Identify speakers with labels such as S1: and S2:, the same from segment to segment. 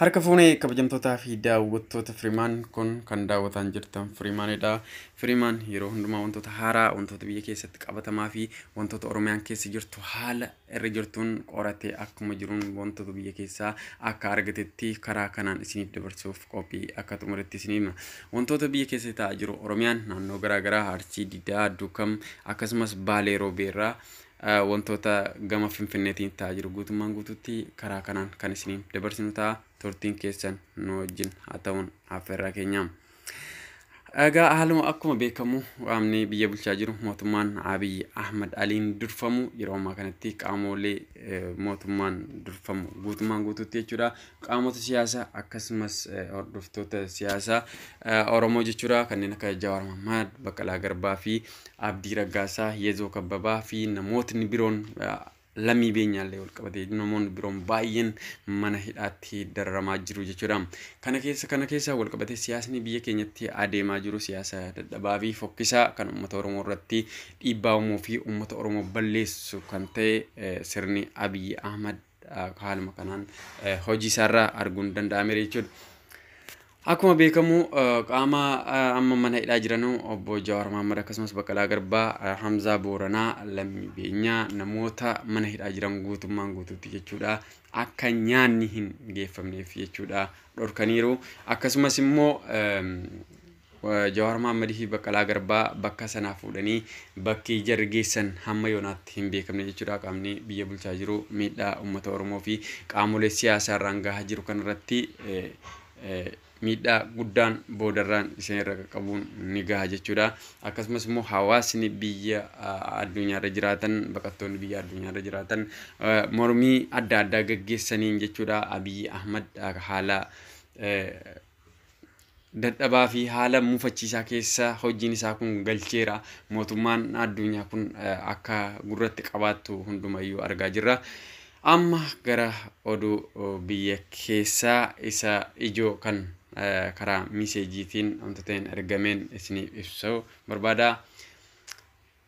S1: Harka fuunee kabajamtootaa fi daawwattoota Firimaan kun kan daawwataan jirtan Firimaanidha. Firimaan yeroo hundumaa wantoota haaraa, wantoota biyya keessatti qabatamaa fi wantoota Oromiyaan keessa jirtu haala irra jirtuun qoratee akkuma jiruun wantoota biyya keessaa akka argatetti karaa kanaan isiniif dabarsuuf qophii akka xumuretti isin hima. Wantoota biyya keessa ta'aa jiru Oromiyaan naannoo garaagaraa Arsii, Didaa, Duukam akkasumas Baalee Roobeerraa Wantoota gama Finfinneetiin ta'aa jiru guutummaan guutuutti karaa kanaan kan isiniin dabarsinu ta'a. Turtiin keessan nu wajjin haa ta'uun affeerraa keenya. Egaa haaluma akkuma beekamu qaamni biyya bulchaa jiru mootummaan Abiy Ahmad Aliin durfamu yeroo ammaa kanatti qaamoolee mootummaan durfamu guutummaan guutuutti jechuudha. qaamota siyaasaa akkasumas eh, hordoftoota siyaasaa eh, Oromoo jechuudha kanneen akka Jawaar Mahmaad, Baqqalaa Garbaa fi Abdii Raggaasaa, Yezoo Kabbabaa fi namootni biroon eh, lammii beenyaallee wal qabatee namoonni biroon baay'een mana hidhaatti dararamaa jiru jechuudha. Kana keessa kana keessa wal qabatee siyaasni biyya keenyatti adeemaa jiru siyaasa dadhabaa fi fokkisaa kan uummata Oromoo irratti dhiibbaa uumuu fi uummata Oromoo balleessu kan ta'e eh, sirni Abiyyi Ahmad haaluma kanaan hojii isaarraa arguun danda'ameera jechuudha. Akkuma beekamu qaama amma mana hidhaa jiranu obbo Jawaar Mahaammad akkasumas Baqqalaa Garbaa, Hamzaa Booranaa, Lammii Beenyaa namoota mana hidhaa jiran guutummaan guutuutti jechuudha. Akka nyaanni hin geeffamneef jechuudha dhorkaniiru. Akkasumas immoo Jawaar Mohaammed fi Baqqalaa Garbaa bakka sanaa fuudhanii bakki jarri geessan hamma yoonaatti hin beekamne jechuudha. Qaamni biyya bulchaa jiru miidhaa uummata Oromoo fi qaamolee siyaasaa irraan gahaa jiru kanarratti miidhaa guddaan boodarraan isin irra qaqqabuun ni gaha jechuudha. Akkasumas immoo hawaasni biyya addunyaarra jiraatan baqattoonni biyya addunyaarra jiraatan mormii adda addaa gaggeessaniin jechuudha Abiyyi Ahmad haala dadhabaa fi haala mufachiisaa keessa hojiin isaa kun galcheera. Mootummaan addunyaa kun akka gurratti qabaattu hundumayyuu argaa jirra. Amma gara oduu biyya keessaa isa ijoo kan karaa miiseejiitiin wantoota hin argameen isiniif ibsu barbaada.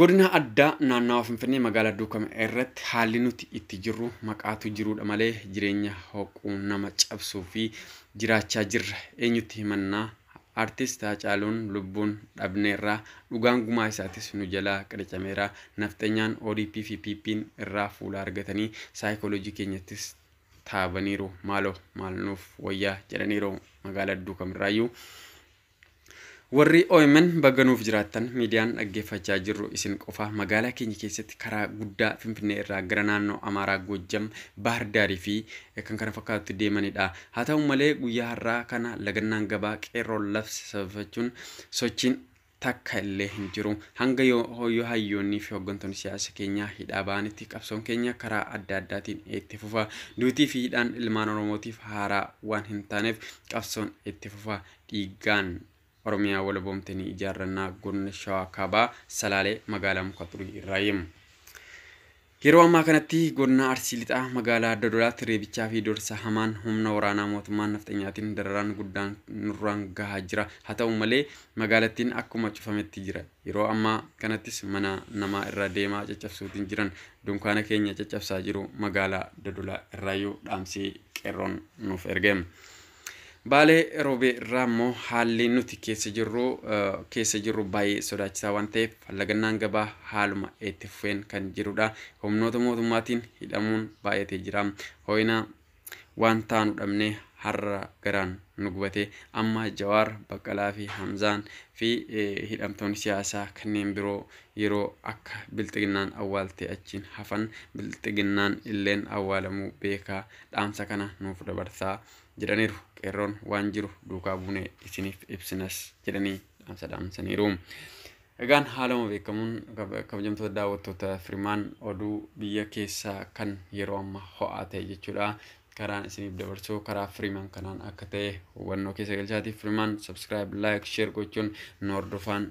S1: Godina addaa naannawa Finfinnee magaalaa Duukam irratti haalli nuti itti jirru maqaatu jiruudha malee jireenya hoquu nama cabsuu fi jiraachaa jirra. Eenyutti himannaa artist Haacaaluun lubbuun dhabneerraa dhugaan gumaa isaatis nu jalaa qiricameera. Nafxenyaan ODP fi PPn irraa fuula argatanii saayikooloojii keenyattis taabaniiru. Maaloo maal nuuf wayyaa jedhaniiru magaalaa Duukam irraayyuu. Warri omn baga nuuf jiraattan miidiyaan dhaggeeffachaa jirru isin qofa magaalaa keenya keessatti karaa guddaa Finfinnee irraa gara naannoo Amaaraa Goojjam Baahar Daarii fi kan kana fakkaatutti deemanidha. Haa ta'u malee guyyaa har'aa kana lagannaan gabaa qeerroon labse sababeeffachuun sochiin takka illee hin jiru. Hanga yoo yoo hayyoonnii fi hooggantoonni siyaasa keenyaa hidhaa ba'anitti qabsoon keenya karaa adda addaatiin itti fufa. Duutii fi hidhaan ilmaan Oromootiif haaraa waan hin taaneef qabsoon itti fufa. dhiiggaan Oromiyaa walaboomte ni ijaarranna Godina Shawaa Kaabaa Salaalee magaalaa Muka Xurii irraayi. Yeroo ammaa kanatti godina Arsii Lixaa magaalaa Dodolaatti reebichaa fi dorsa hamaan humna waraanaa mootummaan nafxanyaatiin dararaan guddaan nurraan gahaa jira. Haa ta'u malee magaalattiin akkuma cufametti jira. Yeroo ammaa kanattis mana namaa irra deemaa caccabsuutiin jiran dunkaana keenya caccabsaa jiru magaalaa Dodolaa irraayyuu dhaamsii qeerroon nuuf erge. Baalee Roobee irraa immoo haalli nuti keessa jirru keessa jirru baay'ee sodaachisaa waan ta'eef lagannaan gabaa haaluma itti fufeen kan jirudha. Humnoota mootummaatiin hidhamuun baay'atee jira. Hoo'ina waan taanu dhabnee har'a garaan nu gubate amma Jawaar Baqqalaa fi Hamzaan fi hidhamtoonni siyaasaa kanneen biroo yeroo akka bilxiginnaan awwaaltee achiin hafan bilxiginnaan illeen awwaalamuu beekaa dhaamsa kana nuuf dabarsaa jedhaniiru. Qeerroon waan jiru duukaa buunee isiniif ibsinas jedhanii dhaamsa dhaamsaniiru. Egaan haaluma beekamuun kabajamtoota daawwattoota firmaan oduu biyya keessaa kan yeroo amma ho'aa ta'e jechuudha. Karaan isiniif dabarsuu karaa firimaan kanaan akka ta'e hubannoo keessa galchaatiif firimaan subscribe, like, share gochuun nu hordofaan